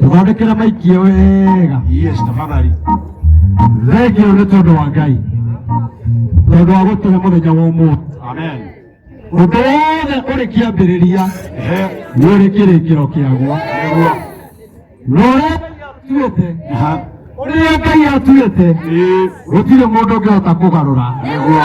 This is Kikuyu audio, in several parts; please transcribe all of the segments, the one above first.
tũthondekere maikio wega Yes, tafadhali. thengio nĩ tondũ wa ngai tondũ wa gũtũhe mũthenya wa ũmũthĩ Amen. ũndũ wothe ũrĩ kĩambĩrĩria Ehe, nĩ ũrĩ kĩrĩkĩro kĩaguo nĩguo. na ũrĩa ngai atuĩte Aha. ũrĩa ngai atuĩte Ĩĩ, gũtirĩ mũndũ ũngĩhota kũgarũra nĩguo.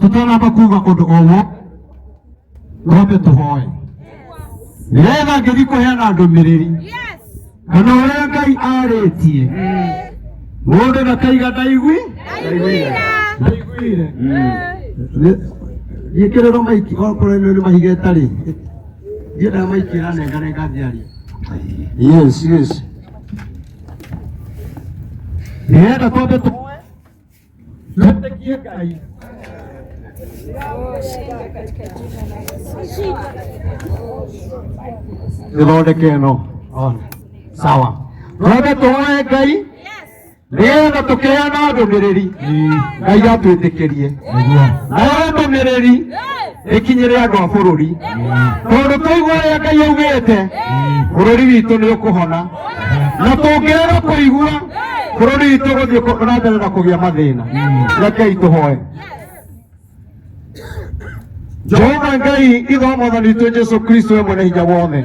tũtanamba kuga ũndũ o wothe twambe tũhoe nĩgetha ngĩthi kũheana ndũmĩrĩri kana ũrĩa ngai arĩtie mũndũ ndakaiga ndaigui ndaiguire gĩkĩrĩro maiki okorwo nĩ nĩ mahiga ĩtarĩ ndiendaga maiki ĩranenganenga ngĩaria yes yes nĩgetha twambe tũhoe ithondeke no sawa twende tuhore ngai nĩgetha tũkĩheana ndũmĩrĩri ngai atwĩtĩkĩrie nayo ndũmĩrĩri ĩkinyĩre andũ a bũrũri tondũ tũigua ũrĩa ngai augĩte bũrũri witũ nĩ ũkũhona na tũngĩrega kũigua bũrũri witũ gũthiĩ kũ- na mbere na kũgĩa mathĩna rekei tũhoe jehova ngai ithe wa mwathani witũ jesu kristo we mwene hinya wothe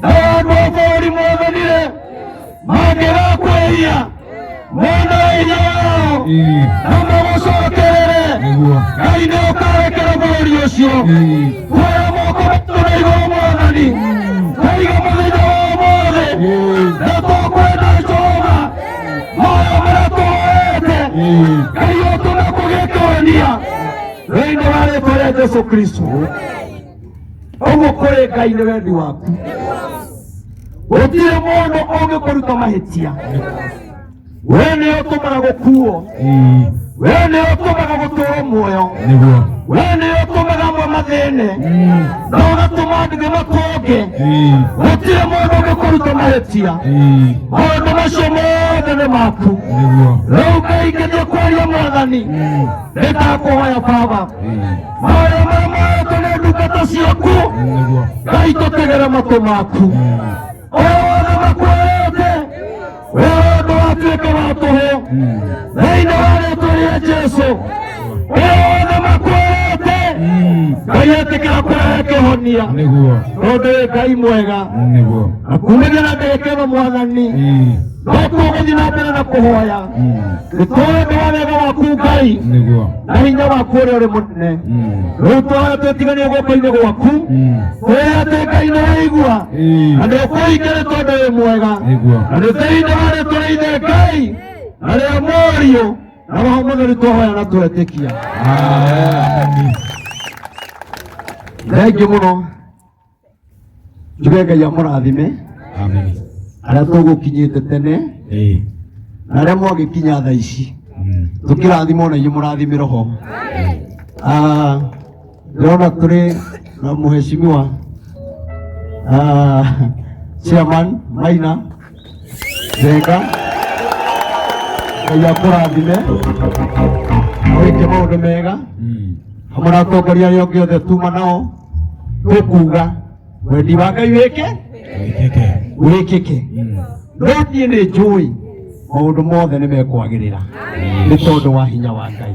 na wandu wa bũrũri mwothanire mangĩgakwĩria mwena wa hinya wao na magũcokerere ngai nĩ ũkarekera bũrũri ũcio kuoya moko maitũ na igũrũ mwathani kaiga mũthenya wa ũmũthĩ na tũkwenda jehova moyo marĩa tũhoete ngai ũtũme kũgĩtũonia thĩinĩ wa rĩtwa rĩa jesu kristo ũguo kũrĩ ngai nĩ wendi waku gũtirĩ mũndũ ũngĩkũruta mahĩtia we nĩ ũtũmaga gũkuo Ii, we nĩ ũtũmaga gũtũrwo muoyo nĩguo we nĩ ũtũmaga amwe mathĩne na ũgatũma ndĩgĩ matonge Ii, gũtirĩ mũndũ ũngĩkũruta mahĩtia ii, maũndũ macio mothe nĩ maku nĩguo rĩu ngai ngĩthiĩ kwaria mwathani nĩndakũhoya baba Ii. maĩ mau maratũgera ndungata ciaku nĩguo ngai tũtegera matũ maku wothe makuoete we wendo watuĩka wa tũhũ thĩinĩ wa rĩtwa rĩa jesu we wothe makuoete ngai etĩkĩra kũrehe kĩhonia nĩguo tondũ wĩ ngai mwega nĩguo na kumĩgĩra ndĩkĩno mwathani Ii. no tũgũthiĩ na mbere na kũhoya nĩ tũũĩ wa wega waku ngai nĩguo na hinya waku ũrĩa ũrĩ mũnene Mm. rĩu tũhoya twĩtiganie guoko-inĩ gwaku Mm. tũũĩ atĩ ngai nĩ waigua Ĩĩ. na nĩ ũkũhingĩre tondũ wĩ mwega Nĩguo. na nĩ thĩinĩ wa rĩtwa rĩa ithe ngai na rĩa mũriũ na roho mũtheru tũhoya na twetĩkia Amen. thengi mũno njuge ngai amũrathime Amen. arĩa tũgũkinyĩte tene Eh. na arĩa mwagĩkinya tha ici Mm. tũkĩrathimwo na inyuĩ mũrathime roho Ah, ndĩrona tũrĩ na mũheshimiwa ah, chairman maina njega ngai akũrathime wĩke maũndũ mega hamwe na atongoria arĩa ũngĩ othe tuma nao tũkuga wendi wa ngai wĩke wĩkĩke no niĩ nĩ njũĩ maũndũ mothe nĩ mekwagĩrĩra nĩ tondũ wa hinya wa ngai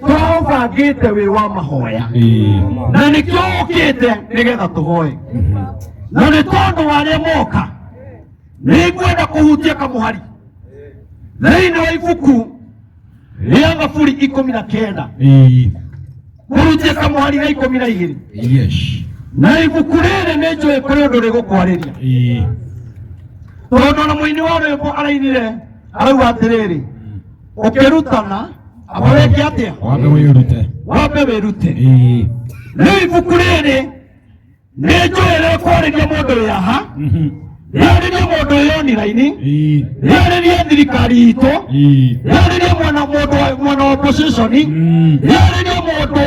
tũraũbangĩte wĩ wa mahoya na nĩkĩo ũkĩte nĩgetha tũhoe na nĩ tondũ wa arĩa moka nĩ ngwenda kũhutia kamũhari thĩinĩ wa ibuku rĩa thaburi ikũmi na kenda kũhutia kamũhari ga ikũmi na igĩrĩ na ibuku rĩrĩ nĩ njũĩ kũrĩ ũndũ rĩgũkwarĩria tondũ na mũini wa rwĩmbo arainire arauga atĩrĩrĩ ũkĩrutana aba weke atĩa wambe wĩrute wambe wĩrute Ĩĩ. rĩu ibuku rĩrĩ nĩ njũĩ rĩkwarĩria mũndũ wĩ aha Mhm. rĩarĩrie mũndũ wĩ oniraini Ĩĩ. rĩarĩrie thirikari itũ Ĩĩ. rĩarĩrie mwana mũndũ wa- mwana wa opposition Mm. rĩarĩrie mũndũ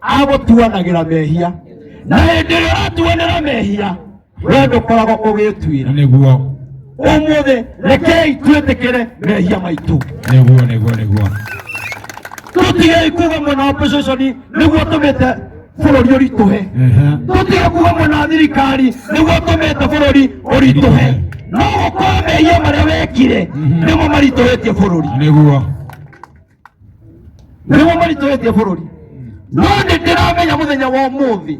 agũtuanagĩra mehia na hĩndĩ ĩrĩa ũratuanĩra mehia we ndũkoragwo ũgĩtuĩra nĩguo ũmũthĩ rekei twĩtĩkĩre mehia maitũ nĩguo nĩguo nĩguo tũtigei kuga mwena wa pococoni nĩguo tũmĩte bũrũri ũritũhe Ehe. tũtige kuga mwena wa thirikari nĩguo tũmĩte bũrũri ũritũhe no gũkorwo mehia marĩa wekire nĩmo maritũhĩtie bũrũri nĩguo nĩguo maritũhĩtie bũrũri no nĩ ndĩramenya mũthenya wa ũmũthĩ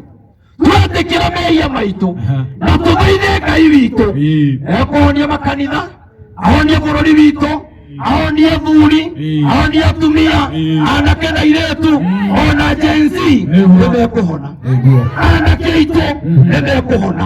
twetĩkĩra mehia maitũ na tũthaithe ngai witũ ekũhonia makanitha ahonie bũrũri witũ ahonie thuri ahonie atumia anake na iretu ona jensi nĩmekũhona anake aitũ nĩmekũhona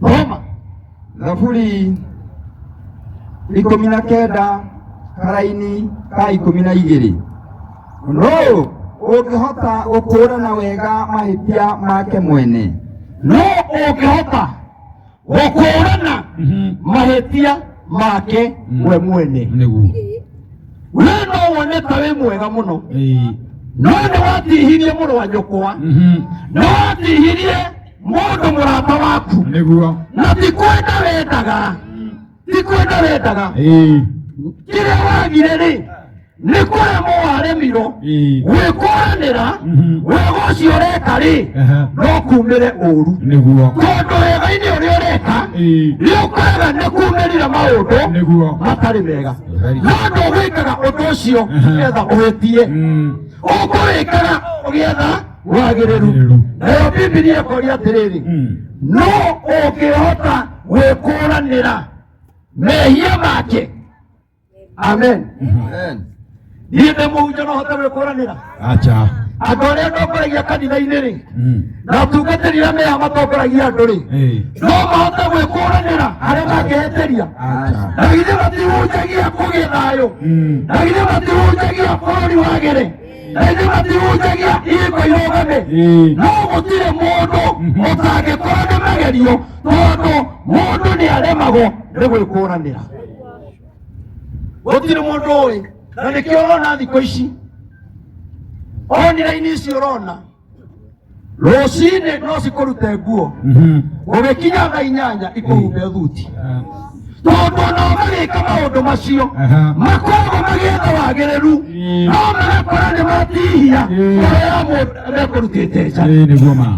thoma thaburi ikũmi na kenda karaini ka ikũmi na igĩrĩ no ũngĩhota gũkũũrana wega mahĩtia make mwene no ũngĩhota gũkũũrana mahĩtia make we mwene nĩguo we no wone ta wĩ mwega mũno Ĩĩ. no nĩ watihirie mũrũ wa nyũkwa Mhm. no watihirie mũndũ mũrata waku nĩguo na ti kwenda wendaga ti kwenda wendaga Ĩĩ, kĩrĩa wagire rĩ nĩ kũremwo waremirwo ĩĩ, gwĩkũranĩra Mhm. wega ũcio ũreka rĩ ehe, no kumĩre ũru nĩguo tondũ wega-inĩ ũrĩa ũreka Ĩĩ, nĩ ũkoraga nĩ kumĩrire maũndũ nĩguo matarĩ mega Very good. no ndũgwĩkaga ũndũ ũcio Mhm. nĩgetha ũhĩtie Mm. ũkũwĩkaga ũgĩetha wagĩrĩru Wagĩrĩru. nayo bibilia ĩkoria atĩrĩrĩ Mm. no ũngĩhota gwĩkũranĩra mehia make amen Amen. niĩ ndĩ mũhunjia no hote gwĩkũranĩra Acha. andũ arĩa ndongoragia kanitha-inĩ rĩ Mm. na atungatĩri arĩa meha matongoragia andũ rĩ Eh. no mahote gwĩkũranĩra arĩa mangĩhĩtĩria Acha. na githĩ matihunjagia kũgĩa thayũ Mm. na githĩ matihunjagia bũrũri wagĩre ĩndĩ matihunjagia hingo irũgame no gũtirĩ mũndũ ũtangĩkorwo nĩ magerio tondũ mũndũ nĩ aremagwo nĩ gwĩkũranĩra gũtirĩ mũndũ ũĩ na nĩkĩo ũrona thikũ ici oniraini ici ũrona rũcinĩ no cikũrute nguo ũgĩkinya thaa inyanya ikũhumbe thuti tondũ ona magĩka maũndũ macio makoragwo magĩetha wagĩrĩru no magakora nĩ matihia ngoro ya mũndũ mekũrutĩte nja Ĩĩ nĩguo ma.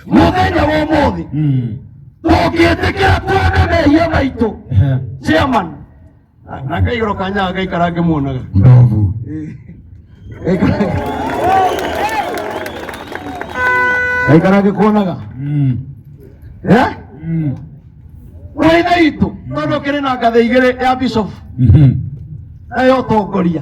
mũthenya wa ũmũthĩ Mm. tũngĩtĩkĩra tuone mehia maitũ Ehe. chairman Ah, nakaigoro kanya agaikara ngĩmuonaga ndovu gaikara ngĩkuonaga Mm. Eh? Mm. ũrĩ na itũ tondũ kĩrĩ na ngathĩ igĩrĩ ya bishop Mhm. nayo ũtongoria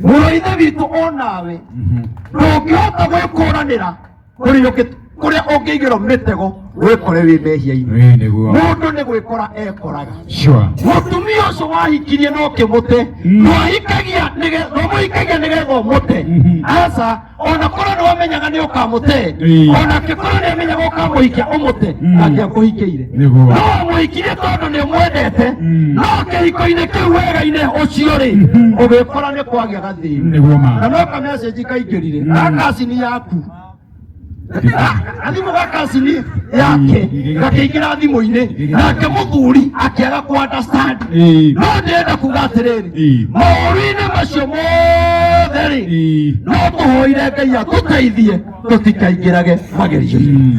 mũrũithe witũ o nawe Mhm. ndũngĩhota gwĩkũranĩra kuri yuki kuri ungigiro mitego wikore wi mehia-ini Wee nĩguo. mundu ni gwikora ekoraga Sure. mutumia ucio wahikirie no kimuti ndwahikagia ndwamuhikagia nigetha umute aca ona korwo niwamenyaga ni ukamute Ii. ona kikorwo niamenyaga ukamuhikia umute angiakuhikiire Nĩguo. no wamuhikirie tondu ni mwendete no kihiko-ini kiu wega-ini ucio ri ugikora ni kwagĩa nĩguo ma na no kamecĩnji kaingĩrire ga kacini yaku na thimũ ga kacini yake gakĩingĩra thimũ-inĩ nake mũthuri akĩaga kũ understand Ĩĩ. no ndĩrenda kuga atĩrĩrĩ Ĩĩ. maũru-inĩ macio mothe rĩ Ĩĩ. no tũhoire ngai atũteithie tũtikaingĩrage magerio-inĩ Mm.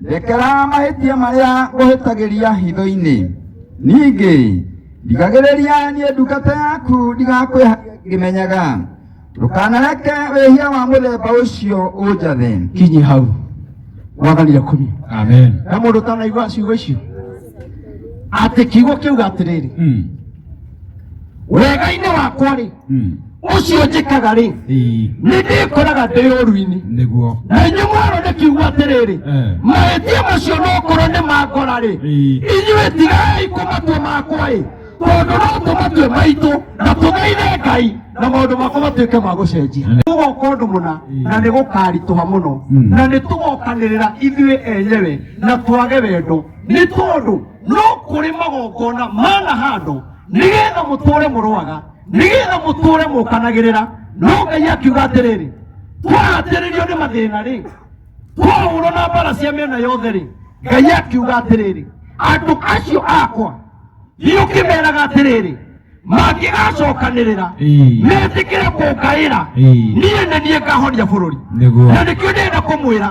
Ndekera mahĩtia marĩa ngũhĩtagĩria hitho-inĩ, ningĩ ndigagĩrĩria niĩ ndungata yaku ndigakwĩhagia ngĩmenyaga, ndũkanareke wĩhia wa mũthemba ũcio ũnjathe. Kinyi hau mwathani akumie Amen. na mũndũ ũtanaigua ciugo icio atĩ kiugo kĩuga atĩrĩrĩ Mm. wega-inĩ wakwa-rĩ Mm. ũcio njĩkaga rĩ Ii, nĩ ndĩkoraga ndĩ ũru-inĩ nĩguo na inyuĩ mwarwo nĩ kiugo atĩrĩrĩ Eh. mahĩtia macio no korwo nĩ mangora rĩ Ii. inyuĩ tigai kũmatua makwa ĩ tondũ no tũmatue maitũ na tũgeire ngai na maũndũ makwa matuĩke ma gũcenjia tũgoka ũndũ mũna na nĩ gũkaritũha mũno Mm. na nĩ tũgokanĩrĩra ithuĩ enyewe na twage wendo nĩ tondũ no kũrĩ magongona mana handũ nĩgetha mũtũre mũrwaga nĩgetha mũtũũre mũkanagĩrĩra no ngai akiuga atĩrĩrĩ twahatĩrĩrio nĩ mathĩna rĩ twahũrwo na mbara cia mĩena yothe rĩ ngai akiuga atĩrĩrĩ andũ acio akwa thiĩ ũkĩmeraga atĩrĩrĩ mangĩgacokanĩrĩra Ĩĩ. metĩkĩre kũngaĩra Ĩĩ. niĩ nĩ niĩ ngahoria bũrũri Nĩguo. na nĩkĩo ndĩenda kũmwĩra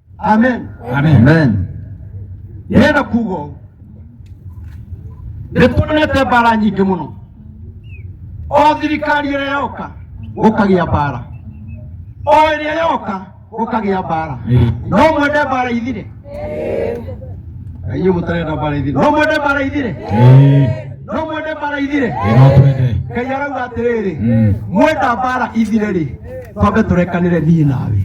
amen amen yena kugo nĩtuonete mbara nyingĩ mũno o thirikari ĩrĩa yoka gũkagĩa mbara o ĩrĩa yoka gũkagĩa mbara no mwende mbara ithire inyuĩ mũtarenda mbara ithire no mwende mbara ithire no mwende mbara ithire ngai arauga atĩrĩrĩ mwenda mbara ithire rĩ twambe tũrekanĩre niĩ nawe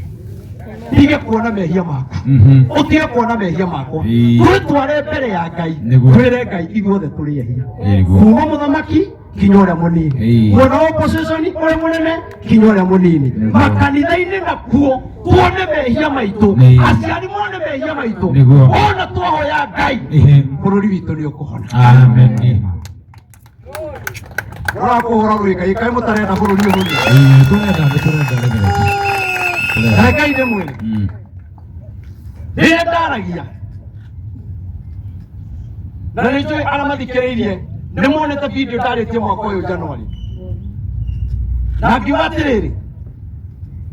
ndige kuona mehia makwa Mhm. utige kuona mehia makwa Ii. twitware mbere ya ngai Nĩguo. twire ngai ithuothe tũrĩ ehia Nĩguo. kuma mũthamaki kinya ũrĩa mũnini Ĩĩ. mwena wa opposition ũrĩa mũnene kinya ũrĩa mũnini Nĩguo. makanitha-inĩ nakuo tuone mehia maitũ Ĩĩ. aciari mone mehia maitũ Nĩguo. wona twahoya ngai Ehe. bũrũri witũ nĩ ũkũhona Amen. ũrakũhũra rũĩka ikaĩ mũtarenda bũrũri ũyũ ũthiĩ. Eh, turenda nĩ turenda nĩ mĩreke turenda rekai nĩ mwĩre Mm. rĩrĩa ndaragia na nĩ njũĩ arĩa mathikĩrĩirie nĩ monete video ndarĩtie mwaka ũyũ januari na ngiuga atĩrĩrĩ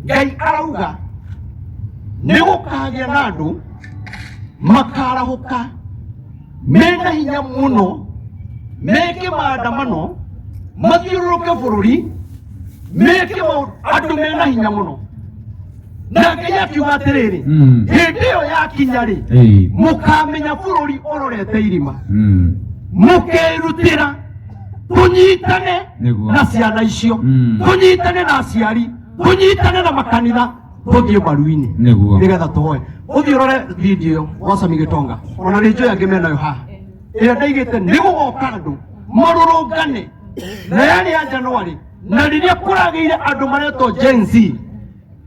ngai arauga nĩ gũkagĩa na andũ makarahũka mena hinya muno meke maandamano mathiũrũrũke bũrũri meke maũndũ andũ mena hinya mũno na ngai akiuga atĩrĩrĩ Mm. hĩndĩ ĩyo yakinya rĩ Eh. mũkamenya bũrũri ũrorete irima Mm. mũkerutĩra tũnyitane Nĩguo. na ciana icio Mm. tũnyitane na aciari tũnyitane na makanitha tũthiĩ maru-inĩ nĩguo nĩgetha tũhoe ũthiĩ ũrore video wa Sami Gĩtonga ona nĩ njũĩ angĩ menayo haha ĩrĩa ndaigĩte nĩ gũgoka andũ marũrũngane na yarĩ ya Januari na rĩrĩa kũragĩire andũ maretwo Gen Z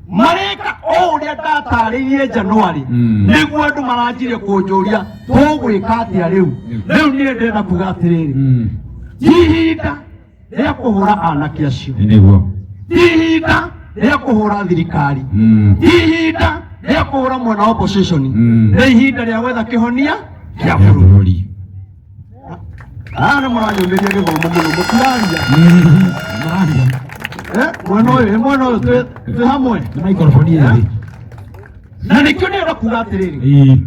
mareka o ũrĩa ndatarĩirie Januari Mm. nĩguo andũ maranjire kũnjũria tũgwĩka atĩa rĩu rĩu niĩ ndĩrenda kuga atĩrĩrĩ Mm. ihinda rĩa kũhũra anake acio nĩguo ti ihinda rĩa kũhũra thirikari Mm. ti ihinda rĩa kũhũra mwena wa opposition Mm. nĩ ihinda rĩa gwetha kĩhonia kĩa ya bũrũri bũrũri aya nĩ mũranyũmĩria gĩthomo mũno mũtiraria Mm. Maria, Eh, mwena ũyũ eh, mwena ũyũ twĩ- twĩ hamwe nĩ maikoroboni ĩrĩ na nĩkĩo nĩ ũrakuga atĩrĩrĩ Ii.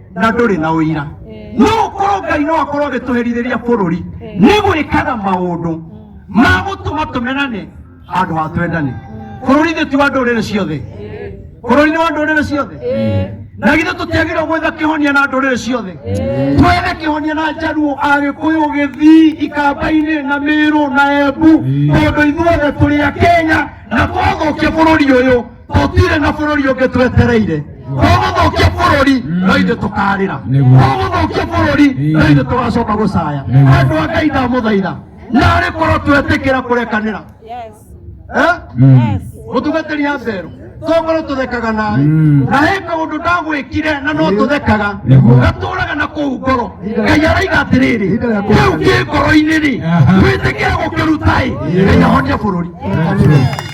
na ndũrĩ na ũira no ũkorwo ngai no akorwo agĩtũherithĩria bũrũri nĩ gwĩkaga maũndũ ma gũtũma tũmenane handũ ha twendane bũrũri thĩ ti wa ndũrĩrĩ ciothe bũrũri nĩ wa ndũrĩrĩ ciothe na githĩ tũtiagĩrĩirwo gwetha kĩhonia na ndũrĩrĩ ciothe twethe kĩhonia na njaruo agĩkũyũ gĩthii ikamba-inĩ na mĩrũ na embu tondũ ithuothe tũrĩ akenya na twathũkia bũrũri ũyũ tũtirĩ na bũrũri ũngĩ twetereire tũgũthũkia bũrũri no ithuĩ tũkarĩra Nĩguo. tũgũthũkia bũrũri no ithuĩ tũgacoka gũcaya Nĩguo. andũ a ngai ndamũthaitha narĩ korwo twetĩkĩra kũrekanĩra Eh? Mm. mũtungatĩri ya mbero tongorwo tũthekaga nawe Mm. na he kaũndũ ndagwĩkire na no tũthekaga Nĩguo. gatũraga na kũu ngoro ngai araiga atĩrĩrĩ Ihinda rĩa kũu kũhurũka. kĩ ngoro-inĩ rĩ Aha. wĩtĩkĩra gũkĩruta-ĩ ngai ahonia bũrũri Thank you.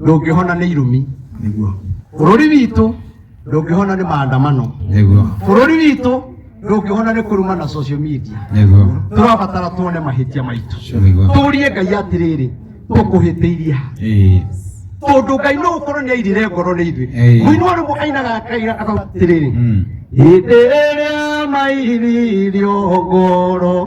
ndũngĩhona nĩ irumi nĩguo bũrũri witũ ndũngĩhona nĩ maandamano nĩguo bũrũri witũ ndũngĩhona nĩ kũruma na social media nĩguo tũrabatara tuone mahĩtia maitũ nĩguo tũrie ngai atĩrĩrĩ tũkũhĩtĩirie ha ĩĩ tondũ ngai no gũkorwo nĩ airire ngoro nĩ ithuĩ Ĩĩ. mũini wa rũmũ ainaga kaira atĩrĩrĩ Mm. hĩndĩ ĩrĩa mairirio ngoro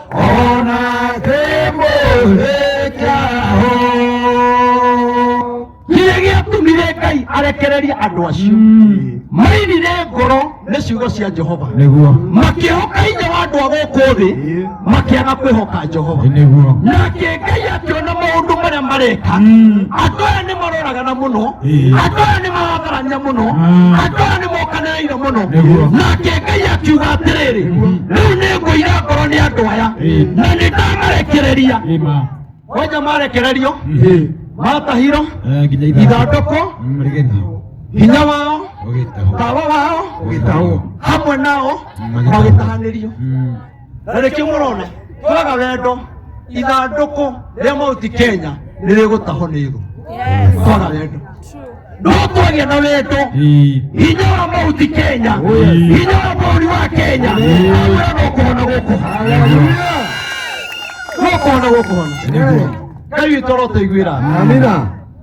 ona kĩmũhĩkĩaho kĩrĩa gĩatũmire ngai arekererie andũ acio mainire ngoro nĩ ciugo cia jehova nĩguo makĩhoka hinya wa andũ a gũkũ thĩ makĩaga kwĩhoka jehova nĩguo nake ngai akĩona maũndũ marĩa mareka andũ aya nĩ maroragana mũno andũ aya nĩ maratharania mũno andũ aya nĩ mokana aire muno Nĩguo. nake ngai akiuga atĩrĩrĩ rĩu nĩ ngũira ngoro nĩ andũ aya Ĩĩ. na nĩ ndamarekereria Ĩma. wanja marekererio Ĩĩ. matahiro Eh, nginya ithandũ. ithandũkũ Mm, rĩgĩthiĩ. hinya wao Ũgĩtahwo. tawa wao Ũgĩtahwo. hamwe nao Magĩtahwo. magĩtahanĩrio Mm. na nĩkĩo mũrona kwaga wendo ithandũkũ rĩa mauti kenya nĩ rĩgũtahwo nĩ thũ kwaga wendo no kwagĩa na wendo hinya wa mauti kenya hinya wa bũrũri wa kenya aura no kũhona gũkũhona no kũhona gũkũhona ngai witũ arotaiguĩra Amina.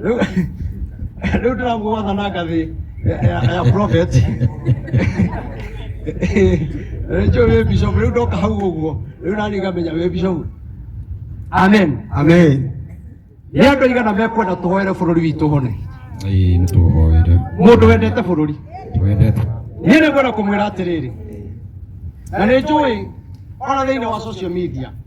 rĩu rĩu Trump gwatha na ngathĩ ya- ya ya prophet rĩu njũĩ wĩ bishop rĩu ndoka hau ũguo rĩu nani ngamenya wĩ bishop amen Amen. nĩ andũ aigana mekwenda tũhoere bũrũri witũ hone Ĩĩ nĩ tũhoere. mũndũ wendete bũrũri Twendete. niĩ nĩ ngwenda kũmwĩra atĩrĩrĩ na nĩ njũĩ ona thĩinĩ wa social media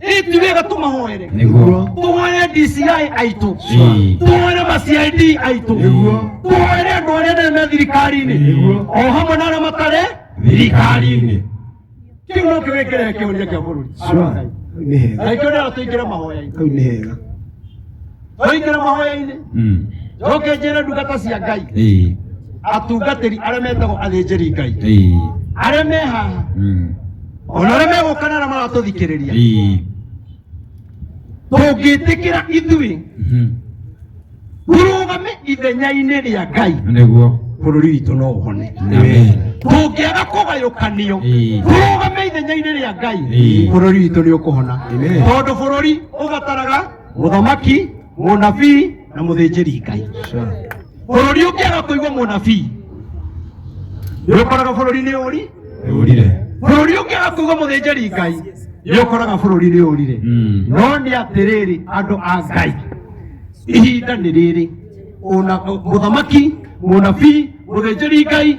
Ĩ ti wega tũmahoere nĩguo tũhoere DCI aitũ Ĩĩ. tũhoere macid aitũ tũhoere andũ arĩa nene me thirikari-inĩ Nĩguo. o hamwe na arĩa matarĩ thirikari-inĩ kĩu no kĩwĩkĩre kĩũria kĩa bũrũri Sure. Nĩ hega. na ikĩo nĩyo tũingĩre mahoya-inĩ Kau nĩ hega. twaingĩra mahoya-inĩ Mm. njoke njĩre ndungata cia ngai Eh. atungatĩri arĩa metagwo athĩnjĩri ngai Eh. arĩa me haha Mm. ona arĩa megũkana na maratũthikĩrĩria Eh. tũngĩtĩkĩra ithuĩ Mhm. tũrũgame ithenya-inĩ rĩa ngai Nĩguo. bũrũri witũ no ũhone Amen. tũngĩaga kũgayũkanio Ĩĩ. tũrũgame ithenya-inĩ rĩa ngai Ĩĩ. bũrũri witũ nĩ ũkũhona Amen. tondũ bũrũri ũbataraga mũthamaki mũnabii na mũthĩnjĩri ngai bũrũri ũngĩaga kũigua mũnabii nĩũkoraga bũrũri nĩ ũri Nĩũrire. bũrũri ũngĩaga kũigua mũthĩnjĩri ngai nĩũkoraga bũrũri nĩ ũrire Mm. no nĩ atĩrĩrĩ andũ a ngai ihinda nĩ rĩrĩ Ũna- mũthamaki mũnabii mũthĩnjĩri ngai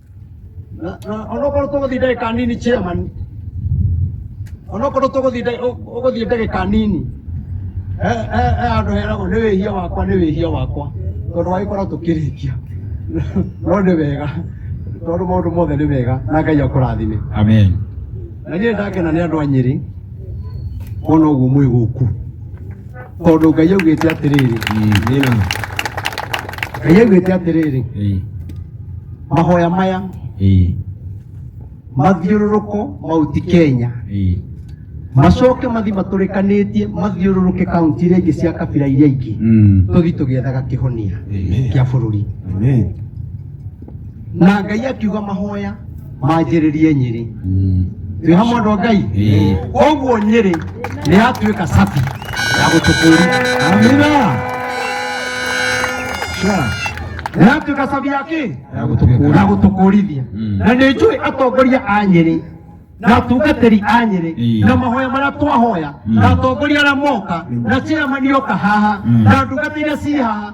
onokorwo tũgũthiĩ ndagĩka nini chairman onokorwo tũgũthiĩ ndagĩ- ũ- ũgũthiĩ ndagĩka nini he he- he handũ heragwo nĩ wĩhia wakwa nĩ wĩhia wakwa tondũ wagĩkorwo tũkĩrĩkia no nĩ wega tondũ maũndũ mothe nĩ mega na ngai akũrathime Amen. na niä ndakena nä andå a nyä rä kuona å guo mwä gå ku tondå ngai augä te atä rä rä Amina. ngai augä te atä rä rä Hey. mahoya maya ĩĩ mathiũrũrũko mauti kenya ĩĩ macoke mathi matũrĩkanĩtie mathiũrũrũke kaunti iria ingĩ cia kabira iria ingĩ Mm. tũthi tũgĩethaga kĩhonia Amen. kĩa bũrũri Amen. na ngai akiuga mahoya manjĩrĩrie nyĩrĩ Mm. twĩ hamwe andũ a ngai Ĩĩ. koguo nyĩrĩ nĩ yatuĩka sabi ya gũtũkũria amina Sure. nĩ yatuĩka sabi ya kĩ Ya gũtũkũria. ya gũtũkũrithia Mm. na nĩ njũĩ atongoria a nyĩrĩ na atungatĩri a nyĩrĩ Ĩĩ. na mahoya marĩa twahoya Mm. na atongoria arĩa moka na ciamanioka haha Mm. na ndungata iria ci haha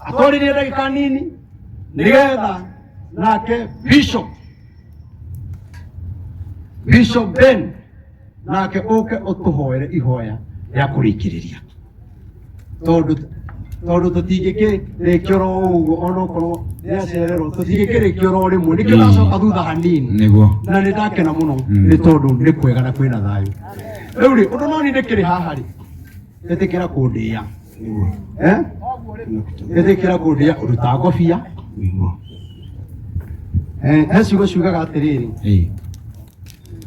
atoririe ndagĩka nini nĩgetha nake bishop bishop ben nake ũke ũtũhoere ihoya rĩa kũrĩkĩrĩria tondũ tondũ tũtingĩkĩrĩkia oro ũguo ona okorwo nĩacererwo tũtingĩkĩrĩkia oro rĩmwe nĩkĩo ndacoka thutha hanini nĩguo na nĩ ndakena mũno nĩ tondũ nĩ kwega na kwĩna thayũ rĩu rĩ ũndũ no nĩ ndĩkĩrĩ haha rĩ ĩtĩkĩra kũndĩa nĩguo eh? ĩtĩkĩra kũndĩa ũrutaga ngobia nĩguo Eh, he ciugo ciugaga atĩrĩrĩ Ĩĩ,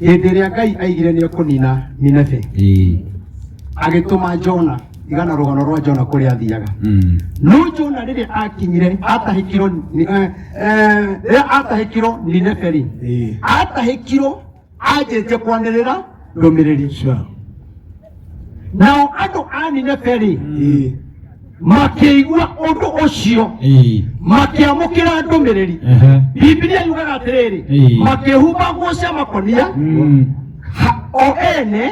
hĩndĩ ĩrĩa ngai aigire nĩ ekũnina ninebe ĩĩ, agĩtũma jona igana rũgano rwa jona kũrĩa athiaga mm, no jona rĩrĩa akinyire atahĩkirwo ni- eh, eh, rĩrĩa atahĩkirwo ninebe rĩ atahĩkirwo anjĩtie kwanĩrĩra ndũmĩrĩri Sure. nao andũ a nineberi Eh. makĩigua ũndũ ũcio Eh. makĩamũkĩra ndũmĩrĩri Ehe. bibilia yugaga atĩrĩrĩ Ĩĩ. makĩhumba nguo cia makonia Mm. ha- o ene